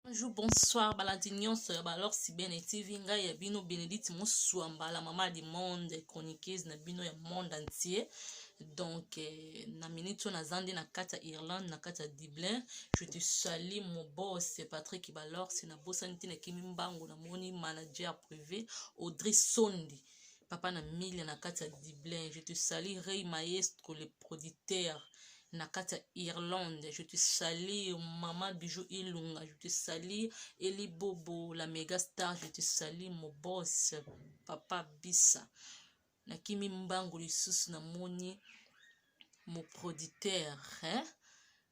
Bonjour, bonsoir, balandi nyonso ya balor sibene tv ngai ya bino benedite mosuamba la mama du monde chroniqueuse na bino ya monde entier donc eh, na minute oyo naza nde na kati ya irlande na kati ya dublin je te sali mobos patrick balor se nabosani te nakimi mbango namoni manager privé audrey sondi papa na mile na kati ya dublin je te salie rey maestro le producteur na kati ya irlande je te salir mama bijou ilunga je te salir eli bobo la mega star je te salir mobos papa bisa nakimi mbangu lisusu namoni moproditeur eh?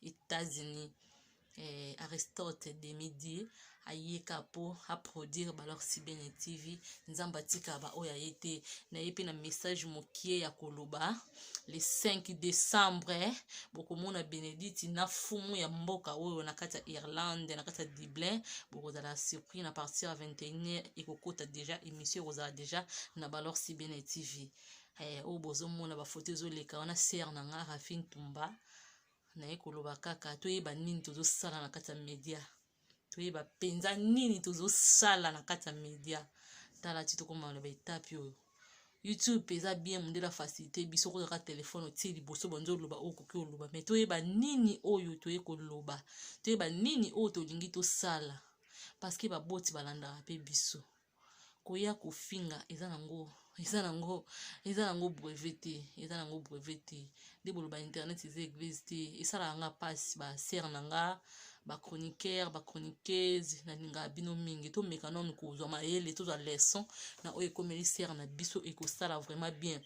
Etats-Unis eh, Aristote Demidie ayeka po aproduire balor sibene tv nzambe atika baoyo aye te na ye mpe na message mokie ya koloba le 5 décembre bokomona benediti na fumu ya mboka oyo na kati ya irlande na kati ya dublin bokozala surpris na partir ya 21 ekokota deja émission ekozala deja na balor sibene tv eh, oyo bozomona bafoto ezoleka wana ser na nga rafine tumba naye koloba kaka toyeba nini tozosala na kati ya media toyeba mpenza nini tozosala na kati ya media tala ti tokoma na baetape oyo youtube eza bien mondele afacilité biso kozaka telefone otie liboso banzo oloba oyo okoki oloba mai toyeba nini oyo toye koloba toyeba nini oyo tolingi tosala parceke baboti balandaka mpe biso koya kofinga eza nango eza nango eza nango brevet te eza nango brevet te nde boloba internet eza eglise te esalaka nga mpasi basere na nga bachroniqueur bachroniqueuse nalingaka bino mingi tomeka nanu kozwa mayele tozwa leçon na oyo ekomeli sere na biso ekosala vraiment bien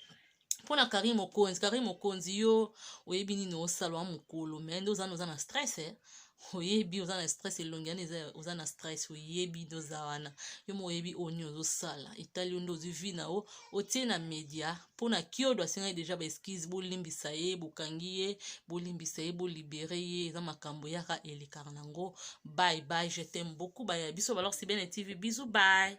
mpo na carine mokonzi carine mokonzi yo oyebi nini osala wa mokolo me nde ozana oza na stress eh? oyebi oza na stress elongi yani oza na stress oyebi nde oza wana yo mo oyebi oyo nini ozosala etali yo nde ozwi vi na yo otie na media mpo na kiodo asengaki deja baeskise bolimbisa ye bokangi ye bolimbisa ye bolibere ye eza makambo yaka elekaka nango bye bye je t'aime beaucoup baya biso balor sibene tv bizu bye